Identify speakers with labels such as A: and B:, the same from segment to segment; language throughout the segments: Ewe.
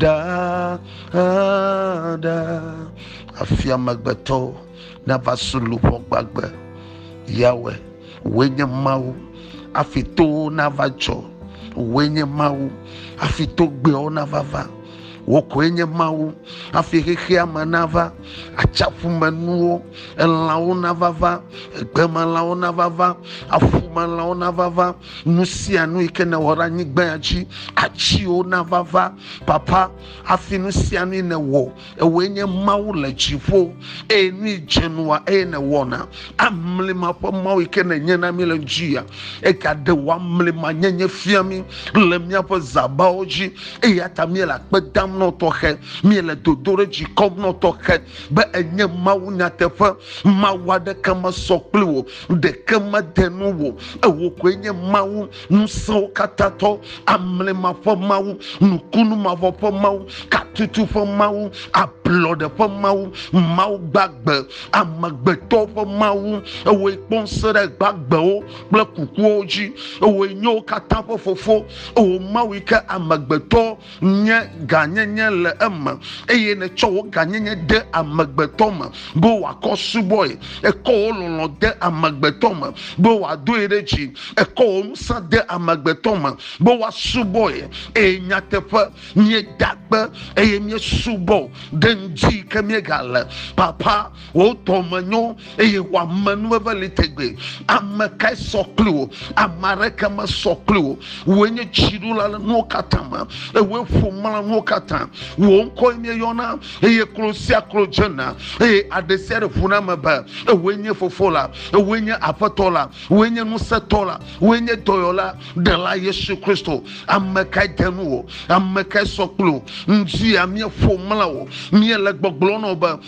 A: Ɖaɖa, hafi amegbetɔwo nava su luʋɔ gbagbe. Yahweh, wòe nye Mawu, hafi towo nava dzɔ. Wòe nye Mawu, hafi togbɛawo nava va. Wò koe nye Mawu, hafi xexea me nava. Atsiaƒumenuwo, elãwo nava va, egbemelãwo nava va, aƒumelãwo nava va, Nu sia nu yi ke nèwɔ ɖe anyigbaa dzi, atsiwo nava va, Papa, hafi nu sia nu yi nèwɔ. Ewòe nye Mawu le dziƒo, eye nu yi dze nua, eye nèwɔna. Amlima ƒe Mawu yi ke nènye na mí le ŋudzia, egaɖe wò amlimanyenye fia mí le míaƒe zãbawo dzi. Eya ta míele akpe dam na wò tɔxɛ, míele dodoɖedzi kɔm na wò tɔxɛ be ènye Mawu nyateƒe, Mawu aɖeke mesɔ kpli wò ɖeke mede nu wò ewò koe nye mawu ŋusẽwo katã tɔ amlima ƒe mawu nukunu mavɔ ƒe mawu katutu ƒe mawu ablɔɖe ƒe mawu mawu gbagbe amegbetɔ ƒe mawu ewoe kpɔ ŋusẽ ɖe gbagbewo kple kukuwo dzi ewoe nyewo katã ƒe fofo ewo mawu yi ke amegbetɔ nye gãnyenye le eme eye nètsɔ wò gãnyenye de amegbetɔ me be wòakɔ subɔe. Èkɔ wò lɔlɔ̃ de amegbetɔ me be wòadoe ɖe dzi. Èkɔ wò ŋusẽ de amegbetɔ me be woasubɔe. Eye nyateƒe, míeda kpe eye míesubɔ ɖe ŋdi yi ke míegale. Papa, wò dɔme nyo eye wò amenuveve li tegbe ame kae sɔ kpli wò ame aɖeke mesɔ kpli wò wòe nye dziɖula le nuwo katã me ewòe ƒo mla nuwo katã wò ŋkɔe míeyɔna eye klo sia klo dzena eye aɖe sia ɖe ʋuna me be ewòe nye fofo la ewòe nye aƒetɔ la wòe nye ŋusẽtɔ la wòe nye dɔyɔla ɖela yesu kristo ame kae de nu wò ame kae sɔ kpli wò ŋdi ya míeƒo mla wò míele gbɔgblɔ nɔ be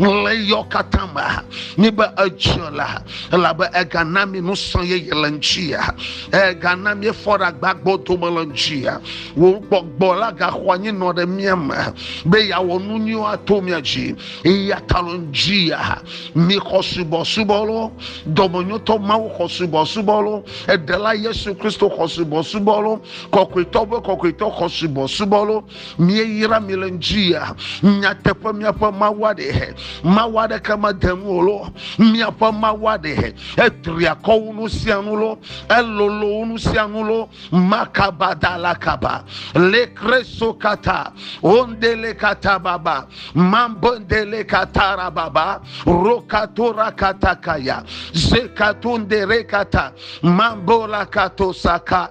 A: ɣleyɔ katã me mi be edziɔ la elabe egana mi nusɔ yeye le ŋutia egana mi efɔ ɖe agbagbo dome le ŋutia wò gbɔgbɔ la gaxɔ anyi nɔ ɖe mia me be yeawɔ nu nyuiwo ato mia dzi eya ta le ŋutia mi xɔ subɔsubɔ lo dɔmenyotɔ mawu xɔ subɔsubɔ lo eɖela yesu kristo xɔ subɔsubɔ lo kɔkɔetɔ be kɔkɔetɔ xɔ subɔsubɔ lo míeyra mi le ŋutia nyateƒe míaƒe mawu aɖe he mawu aɖeke mede nu o lo míaƒe mawu aɖe he etri akɔ wo nu sia nu lo elolo wo nu sia nu lo makaba da la kaba le kreso kata ondele kata baba mambondele kata ra baba rokatora kata kaya zekatonde rekata mambola kato saka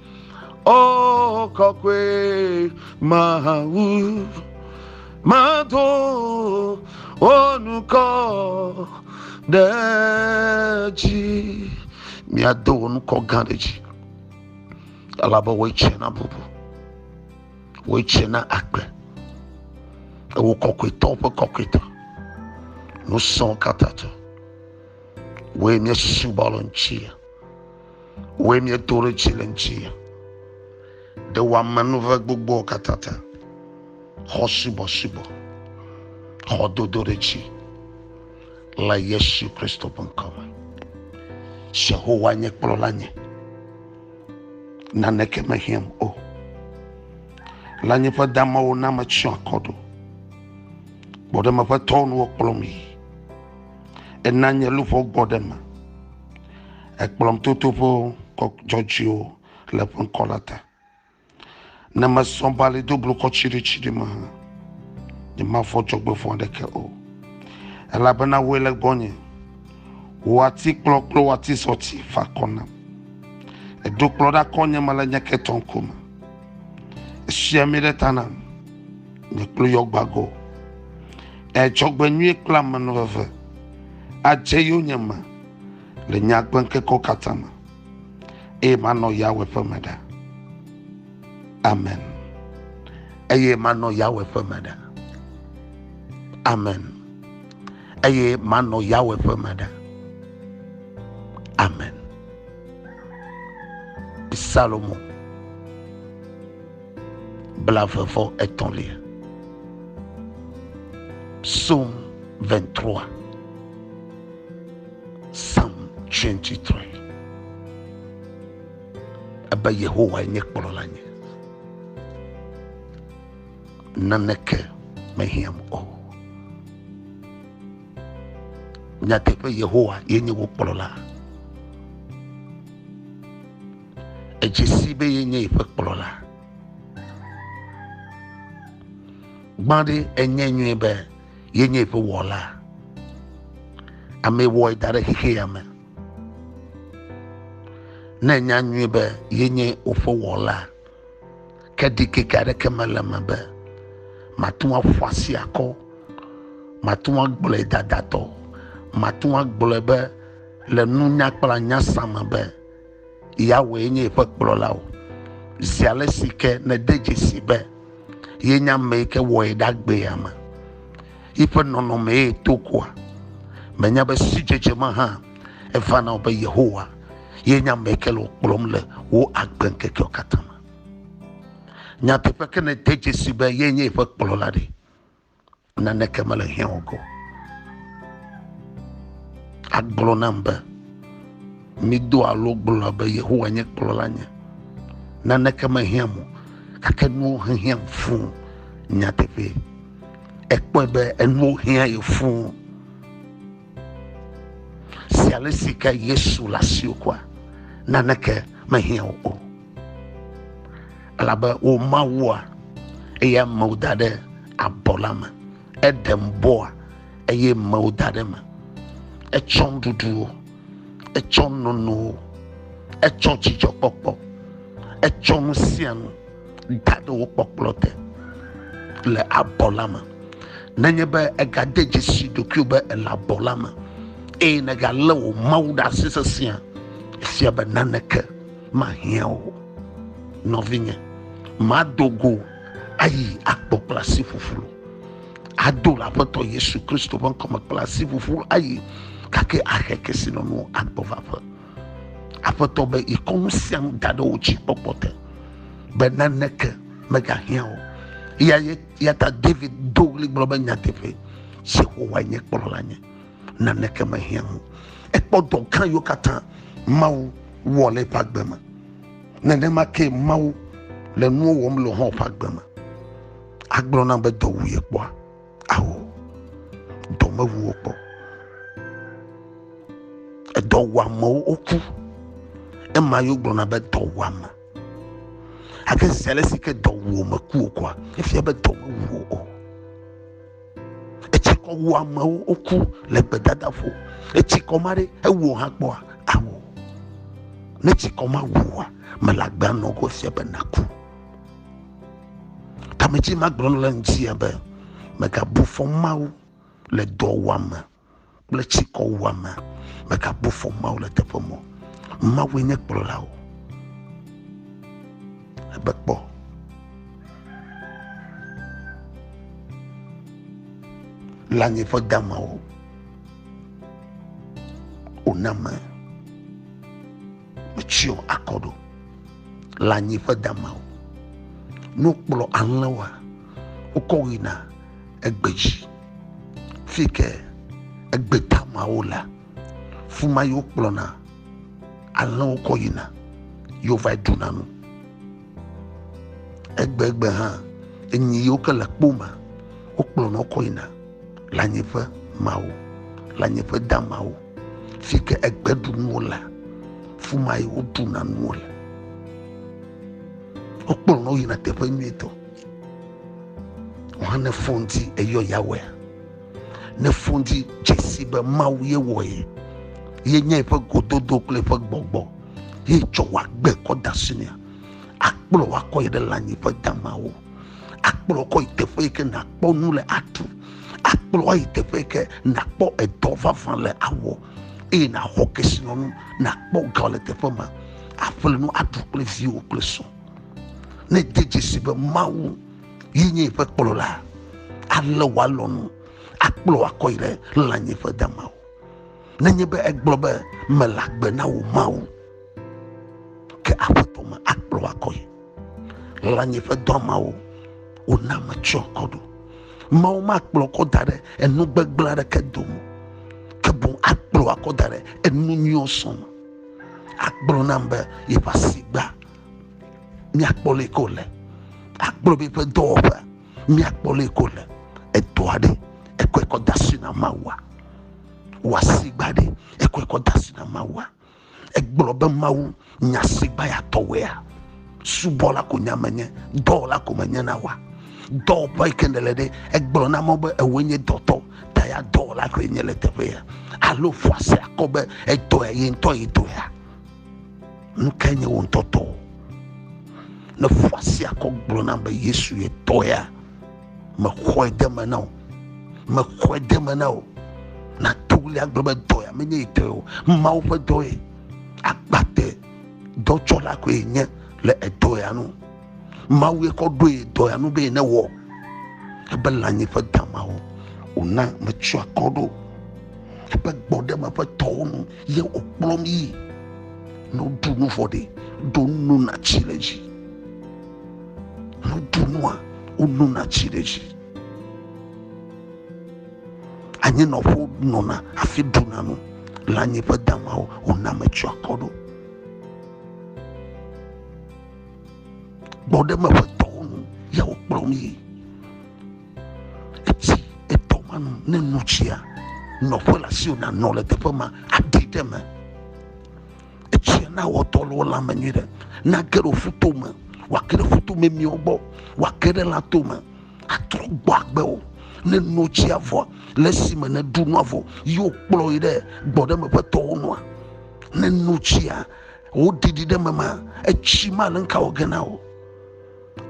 A: Oh, kɔkɔe mawu, mado wo nukɔ ɖe dzi. Miado wo nukɔ gã ɖe dzi. Elabe woe tsɛ na bubu, woe tsɛ na agbe. Ewo kɔkɔetɔwo ƒe kɔkɔetɔ, ŋusẽwo katã tɔ. Woe míesusubɔ le ŋuti. Wòe mieto ɖe tsi le ŋuti, ɖe wòamenuve gbogboa katã ta, xɔ subɔsubɔ, xɔ dodoɖetsi le Yesu Kristo ƒe ŋkɔ me. Yehowa nye kplɔla nye, naneke mehiãm o. Le nye ƒe damewo na metsyɔ akɔ ɖo, gbɔɖeme ƒe tɔwo nuwo kplɔm yi, ena nye luʋɔ gbɔ ɖe me. Ekplɔm toto ƒe dzɔdzɔewo le eƒe ŋkɔ la ta. Ne mesɔ be ali do blukɔ tsiɖitsiɖi me hã, nyemavɔ̃ dzɔgbevɔ̃ aɖeke o. Elabena wòe le gbɔnye. Wò atikplɔ kple wò atizɔti fa akɔ nam. Èɖo kplɔ ɖe akɔ nye me le nye ketɔ ŋkume. Èsi ami ɖe ta nam, nye klo yɔ gbagɔ. Èdzɔgbenyui kple amenuveve adze yonyeme. le nye agbe ŋkekewo katã me eye manɔ Yawe ƒe me ɖa. Amen. Eye manɔ Yawe ƒe me ɖa. Amen. Eye manɔ Yawe ƒe me ɖa. Amen. Psalmo blavevɔ etɔ̃lia. Psaume 23. Psalm 23 ebe Yehowa nye kplɔla nye, naneke mehiãm o. Nyateƒe Yehowa yenye wò kplɔla. Edze si be yenye yeƒe kplɔla. Gbã ɖe enye nyuie be ye nye eƒe wɔla amee wɔe da ɖe xexi ya me ne nya nyuie be ye nye woƒe wɔla ke ɖikeke aɖeke mele me be mate ŋu aƒu asi akɔ mate ŋu agblɔe dadatɔ mate ŋu agblɔe be le nunya kple anya sa me be Yahweh nye yeƒe kplɔla o. Zi ale si ke nède dzesi be yenye amee ke wɔe ɖagbea me, yiƒe nɔnɔmee to koa, mènya be sidzedze me hã eva na wò be Yehowa yenye amee ke le wò kplɔm le wò agbeŋkekewo katã me. Nyateƒe ke nède dzesi be yenye yeƒe kplɔla ɖe, Naneke mele hiã o ko. Agblɔ nam be, mido alo gblɔ be Yehowa nye kplɔla nye. Naneke mehiã mo, gake nuwo hehiã fuu nyateƒe. Ekpɔe be enuwo hiã ye fuu. Si ale si ke Yesu le asiwò kua, naneke mehiã wò o. Elabe wò Mawua, eya mewo da ɖe abɔ la me. Eɖem bɔa, eye mewo da ɖe me. Etsɔ nuɖuɖuwo, etsɔ nonowo, etsɔ dzidzɔkpɔkpɔ, etsɔ nu sia nu. da ɖe wò kpɔkplɔ te le abɔ la me nenye be egade dzesi ɖokuiwò be ele abɔ la me eye nègalé wò mawu ɖe asi sesẽa efia be naneke mahiã o nɔvinye mado go ayi akpɔ kple asi ƒuƒlu ado le aƒetɔ yesu kristo ƒe ŋkɔme kple asi ƒuƒlu ayi gake ahe kesinɔnuwo agbɔvaƒe aƒetɔ be yekɔ nu sia nu da ɖe wo dzi kpɔkpɔ te be naneke megahiã o ya ya ta david do ɣli gblɔ be nyateƒe yehowa nye kplɔla nye naneke mehiã o ekpɔ dɔ gã yiwo katã mawu wɔ le eƒe agbe me nenema ke mawu le nuwo wɔm le hɔn ƒe agbe me agblɔ na be dɔ wu ye kpɔa Ao, dɔ mewu wo kpɔ. Edɔwɔamewo woku. Ema yewo gblɔna be dɔwɔame. Ake si ale si ke dɔ wu me ku okoa, efia be dɔ mewu o. Etsikɔ wu amewo woku le gbedadaƒo. Etsikɔ ma ɖe ewu hã kpɔa ao. Ne tsikɔ ma wua, mele agbea nɔ ko efia be naku. Tametsi ma gblɔ le ŋutia be megabu fɔ Mawu le dɔwuame kple tsikɔwuame. Megabu fɔ Mawu le teƒe mɔ. Mawue nye kplɔlawo. Ebe kpɔ. Le anyi ƒe damawo. Wòna me. Metsyɔ akɔ ɖo le anyi ƒe damawo. Ne wokplɔ alẽwoa, wokɔ wo yina egbe dzi. Fi yi ke egbe damawo lea, fi ma ye wokplɔna alẽwo kɔ yina ye wova ɖuna nu. Egbegbe hã, enyi yiwo ke le kpo me, wokplɔna wo kɔ yina le anyi ƒe mawo, le anyi ƒe damawo. fi ke egbe ɖu nuwo le fi ma yi woɖuna nuwo le wokplɔ na woyina teƒe nyuitɔ wohã ne fon dzi eyɔ yawɔe ne fon dzi dzesi be mawu ye wɔe ye nye eƒe gododo kple eƒe gbɔgbɔ ye tsɔ wòagbe kɔ da si nea akplɔ wakɔ yi ɖe lãnyiƒe damawo akplɔ kɔ yi teƒe yi ke nakpɔ nu le aɖu akplɔ ayi teƒe yi ke nakpɔ edɔ vavã le awɔ eye naxɔ kesinɔnu nakpɔ ga le teƒe ma aƒle nu aɖu kple viwo kple srɔ̃ ne de dzesi be mawu yi nye eƒe kplɔla ale wòalɔnu akplɔ akɔ yi ɖe lãnyiƒe damawo Nenye be egblɔ be, Mele agbe na wò Mawu, ke Aƒetɔ me akplɔ akɔe. Lãnye ƒe dɔ mawo wona metsyɔ akɔ ɖo. Mawu makplɔ akɔ da ɖe enu gbegblẽ aɖeke dome, ke boŋ akplɔ akɔ da ɖe enu nyuiwo sɔ me. Agblɔ nam be yeƒe asi gba, míakpɔ leke wòle. Agblɔ be yeƒe dɔwɔƒe, míakpɔ leke wòle. Edɔa ɖe ekɔe kɔ de asi na Mawua? wɔ asigba ɖe ekɔe kɔ da si na mawua egblɔ be mawu nya asigba ya tɔwɔea subɔla ko nya menye dɔwɔla ko menye na wa dɔwɔƒe yi ke nele ɖe egblɔ na mɔ be ewoe nye dɔtɔ ta ya dɔwɔla koe nye le teƒe ya alo ƒoa se akɔ be etɔe ye ŋutɔ ye tɔ ya nu ke nye wo ŋutɔtɔ ne ƒoa se akɔ gblɔ na be yesu ye tɔ ya mexɔe de me na wò mexɔe de me na wò nato ɣli agblɔ be dɔ ya menye yi tɔe o mawu ƒe dɔ ye agbate dɔtsɔla koe nye le edɔ ya nu mawu ye kɔ ɖoe dɔ ya nu be ne wɔ ebe lãnyi ƒe damawo wòna metsyɔ akɔ ɖo eƒe gbɔɖeme ƒe tɔwo nu ye wòkplɔm yi ne woɖu nu vɔ ɖe ɖo nu natsi le dzi Woɖu nua, wonona tsi ɖe edzi. Anyinɔƒewo nɔna hafi ɖuna nu. Le anyi ƒe damawo, wona ame tsyɔ akɔ ɖo. Gbɔɖeme ƒe tɔwo nu ya wokplɔm yi. Etsi etɔ ma nu ne nu tsia, nɔƒe le asiwò nanɔ le teƒe ma aɖi ɖe eme. etsia na wɔtɔ le wo lãme nyui ɖe nage ɖe woƒu to me wòake ɖe ƒuto memiwo gbɔ wòake ɖe lã to me atrɔ gbɔ agbewo ne no tsia vɔ le esime ne ɖu nua vɔ yewo kplɔ yi ɖe gbɔɖeme ƒe tɔwo nua ne no tsia woɖiɖi ɖe mema etsi ma le ŋka wɔ ge na wo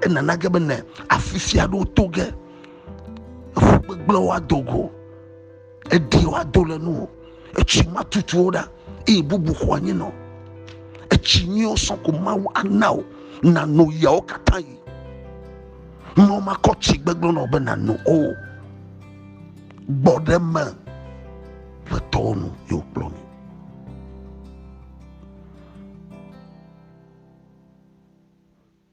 A: enana ge be ne afifia ɖewo to ge eƒu gbegblẽwo adogo Edi woado le nu o. Etsi ma tutuwo ɖa eye bubu xɔ anyi nɔ. Etsi nyuiwo sɔ ko Mawu ana o nano yawo katã yi. Nɔ makɔ tsi gbegblẽ nɔ be nano o. Gbɔ ɖe me ƒe tɔwo nu yewo kplɔ mi.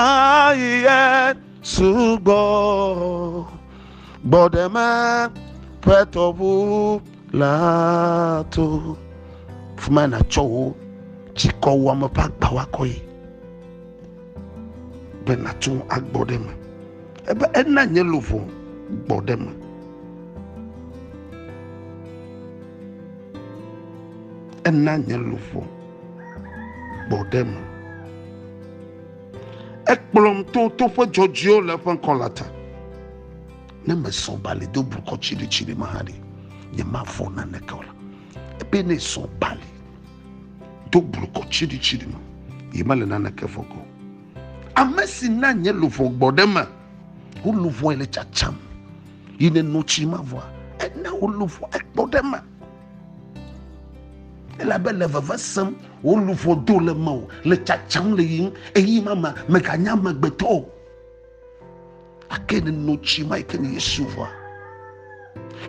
A: Ayiye sugbɔ gbɔɖeme ƒe tɔʋu la to fuma natsɔ wo tsikɔ wɔme ƒe agba wakɔ yi be nato agbɔ ɖe me ebe ena nye luʋɔ gbɔ ɖe me ena nye luʋɔ gbɔɖeme. Ekplɔm to toƒe dzɔdzɔewo le eƒe ŋkɔ la ta. Ne mesɔ bali do blukɔ tsiɖitsiɖi me hã ɖi, nyemavɔ̃ naneke o la, ebe ne sɔ bali do blukɔ tsiɖitsiɖi me, ye mele naneke vɔ̃ go. Ame si na nye luʋɔ gbɔɖeme, woluʋɔe le tsatsam, yi ne notsi mavɔa, ena woluʋɔ ekpɔɖeme. elabe le veve sem wò luʋɔ do le mewò le tsatsam le yiyim eye mama meganya amegbetɔ o ake ne no tsi ma yi ke nye yesu ʋɔa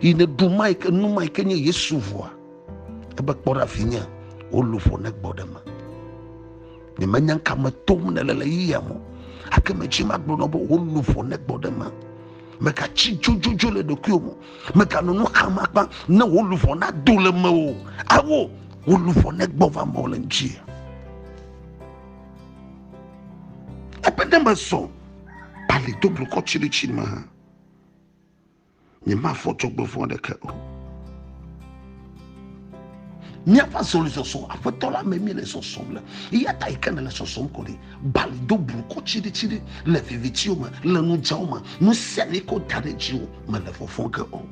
A: yi ne ɖu ma yi ke nu ma yi ke nye yesu ʋɔa ebe kpɔ ɖa vinye wò luʋɔ ne gbɔ ɖe me nyemenya ka me tom ne le le yiya mo ake me tsi ma gblɔ nɔ be wò luʋɔ ne gbɔ ɖe me megatsi dzodzodzo le ɖokuiwo mo Mèganɔ nu xam akpa ne wò luʋɔ nado le mewò o, alo wò luʋɔ negbɔ va mewò le ŋuti. Ebe ne mezɔ bali do blukɔ tsiritsiri me hã, nyemafɔ dzɔgbevɔ̃ aɖeke o. míaƒe azɔlizɔzɔ aƒetɔ la me míele sɔsɔm le eya ta yi ke nele sɔsɔm ko ɖi bali do blukɔ tsiɖitsiɖi le vivitiwo me le nudzao me nu sia ne ko da ɖe dziwo mele fɔfɔ ge o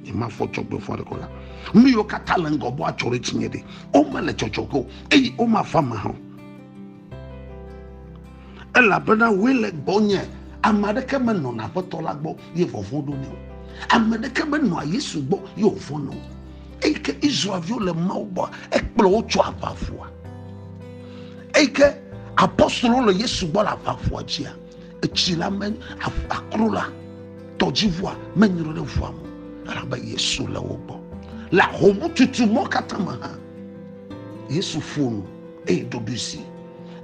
A: nyemafɔ dzɔgbefɔ aɖeke la nu yiwo katã le ŋgɔ bɔ atsɔ ɖe dzinye ɖi womele dzɔdzɔ ge o eye womafa me hã o elabena wòe le gbɔnye ame aɖeke menɔna aƒetɔ la gbɔ ye vɔvɔ̃ ɖo nɛ o ame aɖeke menɔa yesu gbɔ ye wòvɔ̃na o eyi ke israelviwo le mawu gbɔ ekplɔ wo tso aʋaʋua eyi ke apɔstolo le yesu gbɔ le aʋaʋua dzia etsi la me akro la tɔdziʋua menyre ɖe ʋua me elabe yesu le wo gbɔ le ahomututu mɔ katã me hã Yesu ƒo nu eye ɖoɖoe si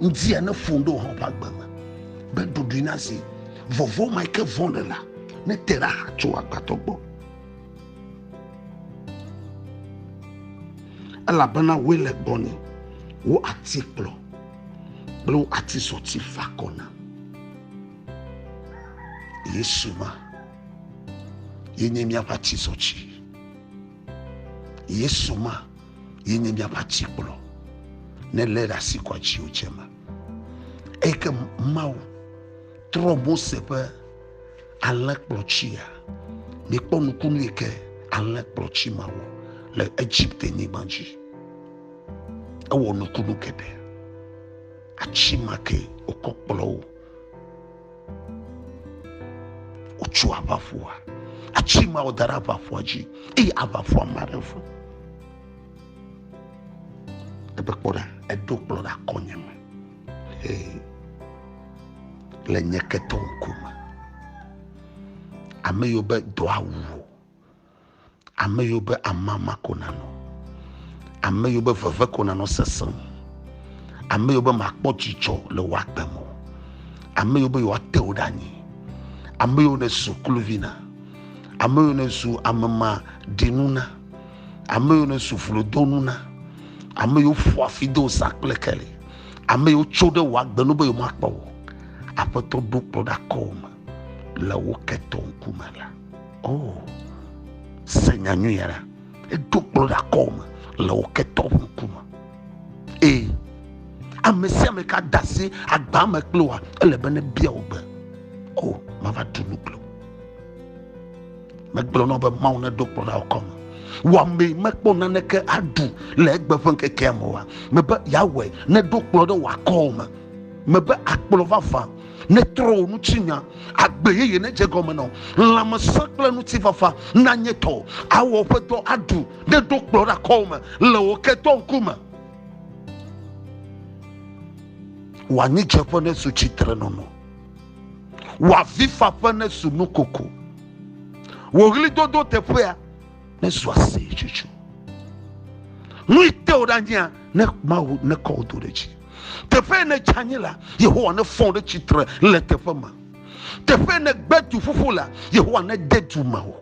A: ŋdia ne ƒo ɖo hã ƒe agbe me be ɖoɖoe na zi vɔvɔ ma ke vɔ̃ le la ne te ɖe aha tso agbadɔ gbɔ. Elabena woe le gbɔnye, wo ati kplɔ kple wo ati sɔti fa kɔ na. Yesu ma yenye míaƒe ati sɔti. Yesu ma ye nye miaƒe atikplɔ ne lé ɖe asi kɔ atiwo dze me eyi ke mawu trɔ mose ƒe alẽkplɔtsia mikpɔ nukunu yi ke alẽkplɔtsi ma wɔ le egipte nyigba dzi ewɔ nukunu geɖe atsi ma ke wokɔ kplɔ wo wotso aʋaƒoa atsi mawo da ɖe aʋaƒoa dzi eye aʋaƒoa ma ɖe fu ebe kpɔ ɖa eɖo kplɔ ɖe akɔnye me ee le nye ketɔwo ŋkume ame yiwo be dɔa wu o Ame yiwo be amama ko nanɔ, ame yiwo be veve ko nanɔ sesẽ, ame yiwo be makpɔ dzidzɔ le wò agbe me, ame yiwo be yewoate wò ɖe anyi, ame yiwo nèzu kluvi na, ame yiwo nèzu amemaɖinu na, ame yiwo nèzu vlodonu na, ame yiwo ƒoa fi do zã kple keli, ame yiwo tso ɖe wò agbe nu be yewomakpɔ wò. Aƒetɔ ɖo kplɔ ɖe akɔwò me le wò ketɔ ŋkume la. Oh, se nya nyui ya ɖa. Eɖo kplɔ ɖe akɔme le wò ketɔ ƒe ŋkume. Ee, ame sia ame ka da asi agba me kple wa ele be nebia wò gbe. O, oh, mava ɖu nu kple wò. Megblɔ na be Mawu neɖo kplɔ ɖe akɔme. Wɔame mekpɔ naneke aɖu le egbe ƒe ŋkekea me wa. Mebe yeawɔe neɖo kplɔ ɖe wò akɔme. Mebe akplɔ vavã Netrɔ wò ŋutinya, agbe yeye nedze gɔme nɔ. Lãmesẽ kple ŋutifafa nanye tɔwò. Awɔ ƒe dɔ aɖu, ne ɖo kplɔ ɖe akɔwò me le wò ketɔ ŋkume. Wò anyidzeƒe nezu tsitrenɔnɔ, wò avifaƒe nezu nukoko, wò ɣlidodo teƒea. ne zu aseyetsotso. Nui te wò ɖe anyia ne Mawu ne kɔ wò do ɖe dzi. Teƒe ne dze anyi la, Yehowa ne fɔ ɖe tsitre le teƒe ma. Teƒe ne gbe du ƒuƒu la, Yehowa ne de du ma wò.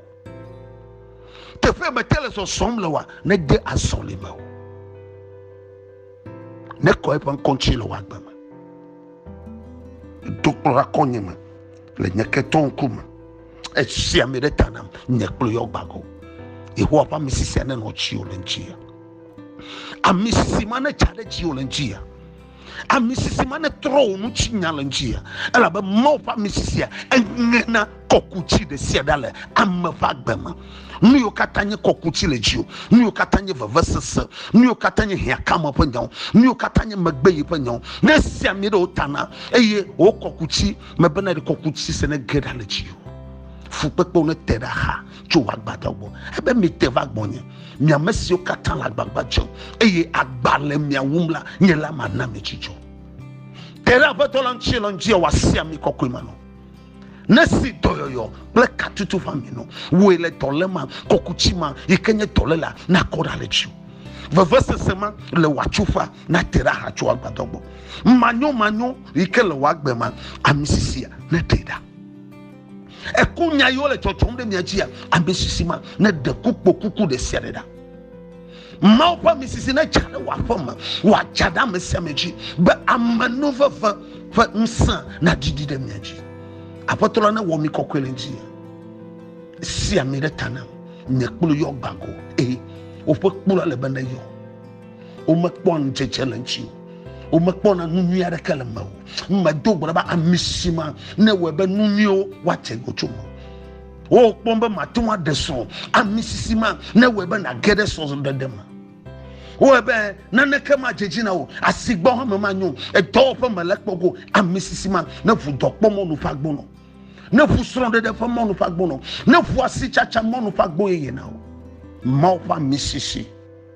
A: Teƒe me te le zɔzɔm le wa ne de azɔli me wò. Ne kɔ eƒe ŋkɔ ŋuti le wò agbe me. Dokplɔ akɔ nye me. le nye ketɔ ŋkume esi ame ɖe ta nam nye kple yɔ gbagɔ yehowa ƒe ame sisi ane nɔ tsi o le ŋtsi ya ame sisi ma ne tsa ɖe tsi o le ŋtsi ya ame sisi ma ne trɔ o nu tsi nya le ŋtsi ya elabe mawu ƒe ame sisi ya eŋe na kɔku tsi ɖe sia ɖe le ame ƒe agbe me nu yiwo katã nye kɔku tsi le dzi o nu yiwo katã nye vevesese nu yiwo katã nye hiãkame ƒe nyawo nu yiwo katã nye megbe yi ƒe nyawo ne sia mi ɖewo tana eye wokɔku tsi Mebena ɖe kɔku dzi se ne ge ɖa le dzi o. Fukpekpewo ne te ɖa xa tso wò agbadɔ gbɔ. Ebe mite va gbɔnye, mi ame siwo katã le agbagba dzem, eye agba le mia wum la, nye la mana mi dzidzɔ. Te ɖe Aƒetɔ la ŋuti le ŋdi wòasi ami kɔkɔe ma nɔ. Nesi dɔyɔyɔ kple katutu ƒe ami nɔ wòe le dɔlé ma, kɔkutsi ma yi ke nye dɔlé la nakɔ ɖa le dziwò. Vevesese ma le wò atsuƒea nate ɖa xa tso wò agbadɔ gbɔ. Manyomanyo yi ke le wò agbe ma, ami sisia neɖee ɖa. Eku nya yiwo le tsɔtsɔm ɖe mia dzia, ami sisi ma neɖe kukpokuku ɖe sia ɖe ɖa. Mawu ƒe ami sisi nedza ɖe wò aƒe me, wòadza ɖe ame sia ame dzi be amenuveve ƒe ŋusẽ nadidi ɖe mia dzi. Aƒetɔ la newɔ mi kɔkɔe le ŋuti. Si ami ɖe ta nam, nye kplu yɔ gbagoo, eye woƒe kplu ale be neyɔ. Womekpɔa ŋudzedze le ŋuti o. Womekpɔna nu nyui aɖeke le me o. Medo gbe be ami si ma ne wɔe be nu nyuiwo woate ŋu tso me. Wokpɔm be mate ŋu aɖe srɔ̃. Ami sisi ma ne wɔe be nàge ɖe srɔ̃ɖeɖe me. Wowɔe be naneke madze dzi na wò, asigbɔ hã me manyo, edɔwɔƒe me le kpɔ go. Ami sisi ma ne ŋu dɔkpɔ mɔnu ƒe agbonɔ, ne ŋu srɔ̃ɖeɖe ƒe mɔnu ƒe agbonɔ, ne ŋu asitsatsa mɔnu ƒe agbo yeye na wò. Mawu ƒe ami sisi.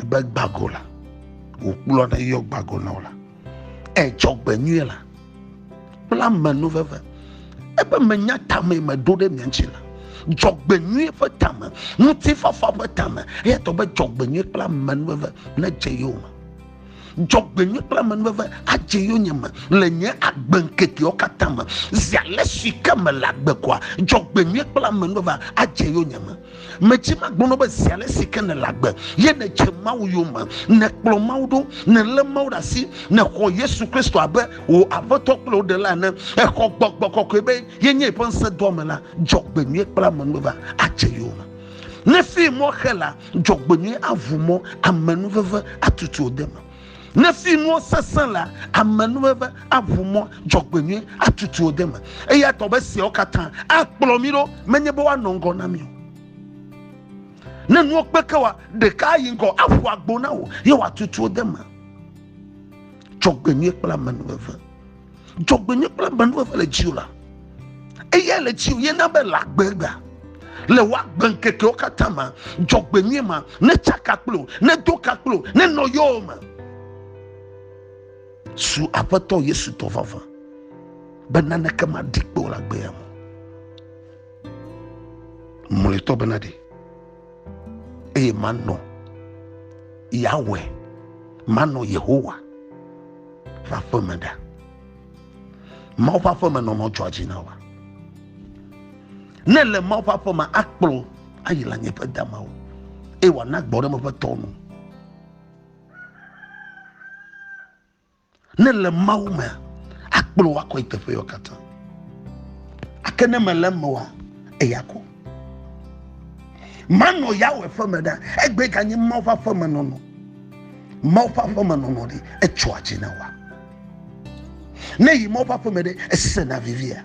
A: Ebe gbago la, wòkplɔ ɖe yɔ gbago na wo la, edzɔ gbe nyuie la, kple ame nu veve. Ebe menya tame meɖo ɖe mia ŋuti la, dzɔgbenyui ƒe tame, ŋutifafa ƒe tame, eya tɔ be dzɔgbenyui kple ame nu veve nedze yowòme. dzɔgbenyui kple amenuveve adze yonye me le nye agbe ŋkekewo katã me zi ale si ke mele agbe koa dzɔgbenyui kple amenuveve adze yonye me medzi magbɔnɔ be zi ale si ke nele agbe ye nedze mawu yome nekplɔ mawu ɖo nelé mawu ɖe asi nexɔ yesu kristo abe wò aƒetɔ kple wò ɖela ene exɔ gbɔgbɔ kɔkɔe be yenye eƒe ŋusẽ doa me la dzɔgbenyui kple amenuveve adze yome ne fim mɔ xe la Dzɔgbenyui aʋu mɔ, amenuveve atutu wò deme. Ne finuwo sesẽ la, amenuveve aʋu mɔ, dzɔgbenyui atutu wò deme. Eya ta be siawo katã akplɔ mí ɖo, menye be woanɔ ŋgɔ na mí o. Ne nuwo kpe ke wa, ɖeka ayi ŋgɔ aƒu agbo na wò ye wòatutu wò deme. Dzɔgbenyui kple amenuveve. dzɔgbenye kple amenuveve le dziwò la eya le dziwò ye na be le agbegba le woagbe ŋkekewo katã ma dzɔgbenyui ma ne tsaka kplo ne do ka kplo ne nɔ yɔwo me su aƒetɔ yesu tɔ vava be naneke maɖi kpe o le agbea me mlɔetɔ bena ɖe eye manɔ Yahweh, manɔ Yehowa ƒe aƒeme ɖa. Mawu ƒe aƒeme nɔnɔ dzɔa dzi na wa. Ne le Mawu ƒe aƒeme akplɔ ayi le anyi ƒe damawo eye wòana gbɔɖeme ƒe tɔwo nu. Ne le Mawu mea, akplɔ wò akɔe teƒeyewo katã. Ake ne mele eme oa, eya ko. Manɔ Yahweh ƒe me ɖa, egbe ganye Mawu ƒe aƒe me nɔnɔ. Mawu ƒe aƒe me nɔnɔ ɖi, etsɔa dzi na wa. Ne yi Mawu ƒe aƒe me ɖe, esena vivia.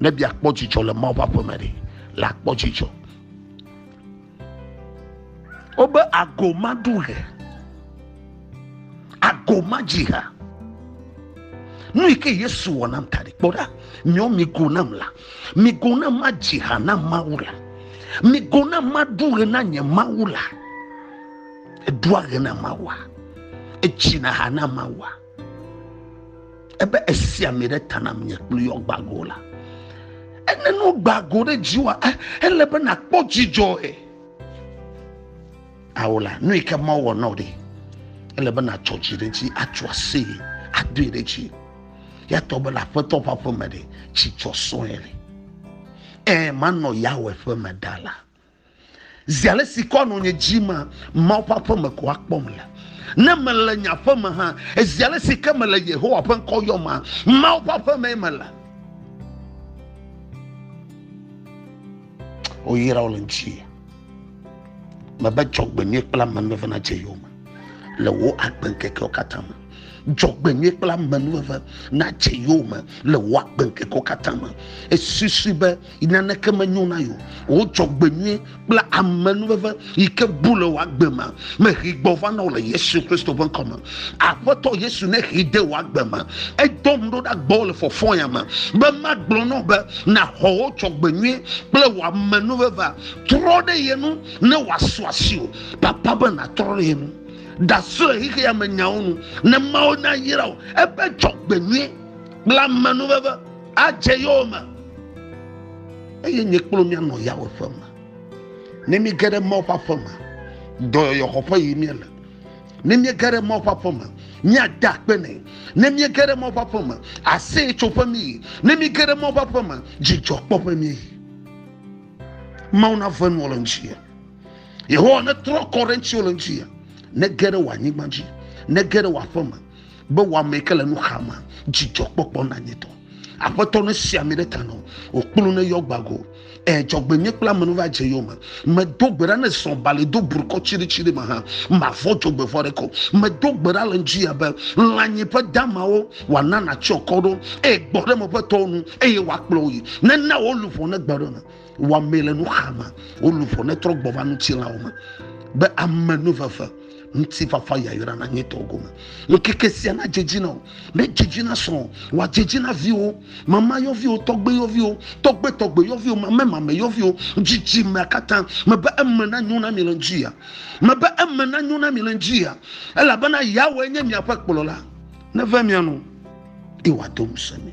A: ne biakpɔ dzidzɔ le mawu ƒe aƒeme ɖe la kpɔ dzidzɔ wobe ago maɖu he ago madzi ha nu yi ke yesu wɔ nam ta ɖi kpɔ ɖa nyɔ migo nam la migo nam madzi ha na mawu la migo nam maɖu ɣe na nye mawu la eɖua ɣe na mawua etsina ha na mawua ebe esi ami ɖe ta nam nye kple yɔ gbago la ene no gbago ɖe dziwa eh, ele be nakpɔ dzidzɔ e awo la nu yi ke ma wɔ nɔ ɖe ele be natsɔ dzi ɖe dzi atso ase adoe ɖe dzi yatɔ be le aƒetɔ ƒe aƒeme ɖe dzidzɔ sɔe le ɛ manɔ yawe ƒe me ɖa la Zi ale si kɔa nɔ nye dzi ma, Mawu ƒe aƒe me ko akpɔm le. Ne mele nye aƒe me hã, zi ale si ke mele Yehowa ƒe ŋkɔ yɔm ma, Mawu ƒe aƒe mee mele. Woyra wo le ŋuti. Mebe dzɔgbenyui kple amenuveve nadze yowòme le wò agbeŋkekewo katã me. Dzɔgbenyui kple amenuveve nadze yowòme le wò agbeŋkekewo katã me. Esusui be yi naneke menyo na yewo wò dzɔgbenyui kple amenuveve yi ke bu le wò agbe me mehi gbɔ va na wò le yesu kristo ƒe ŋkɔ me aƒetɔ yesu ne hi de wò agbe me edɔm ɖo ɖa gbɔ le fɔfɔya me be magblɔ na wò be nàxɔ wò dzɔgbenyui kple wò amenuveve trɔ ɖe ye nu ne wòasu asi o papa be nàtrɔ ɖe ye nu dasu le xexeya me nyawo nu ne mawo nayra o ebe dzɔgbenyui kple amenuveve adze yowòme eye nye kple mia nɔ yawo ƒe me ne mi ge ɖe mawo ƒe aƒe me dɔyɔyɔ xɔ ƒe yi mia le ne mi ge ɖe mawo ƒe aƒe me mia da akpe nɛ ne mi ge ɖe mawo ƒe aƒe me aseye tso ƒe mi yi ne mi ge ɖe mawo ƒe aƒe me dzidzɔ kpɔ ƒe mi yi mawo na ve nuwo le ŋuti ya yehowa ne trɔ kɔ ɖe ŋuti wo le ŋuti ya ne ge ɖe wò anyigba dzi ne ge ɖe wò aƒe me be wɔamee ke le nu xa ma dzidzɔkpɔkpɔ nanyitɔ aƒetɔ ne si ami ɖe ta nɔ wòkplu ne yɔ gbago e dzɔgbenye kple amenu va dze yome medo gbe ɖa ne zɔ bali do burukɔ tsiɖitsiɖi me hã mavɔ dzogbevɔ ɖe ko medo gbe ɖa le ŋdzi ya be lãnyi ƒe damawo wòana nàtsyɔ kɔ ɖo eye gbɔ ɖe meƒe tɔwo nu eye wòakplɔ wo yi nena wo luʋɔ negbe ɖe me wɔmee le nuxame wo luʋɔ ne trɔ gbɔ va ŋutilãwo me be ame nu veve ŋutifafa yayra na nye tɔ gome ŋkeke sia na dzedzi na o ne dzedzi na srɔ̃ wa dzedzi na viwo mama yɔviwo tɔgbe yɔviwo tɔgbe tɔgbe yɔviwo mame mame yɔviwo dzidzi mea katã mebe eme na nyo na mi le ŋdzi ya mebe eme na nyo na mi le ŋdzi ya elabena yawoe nye miaƒe kplɔla neve mia nu eye wòado ŋusẽ mi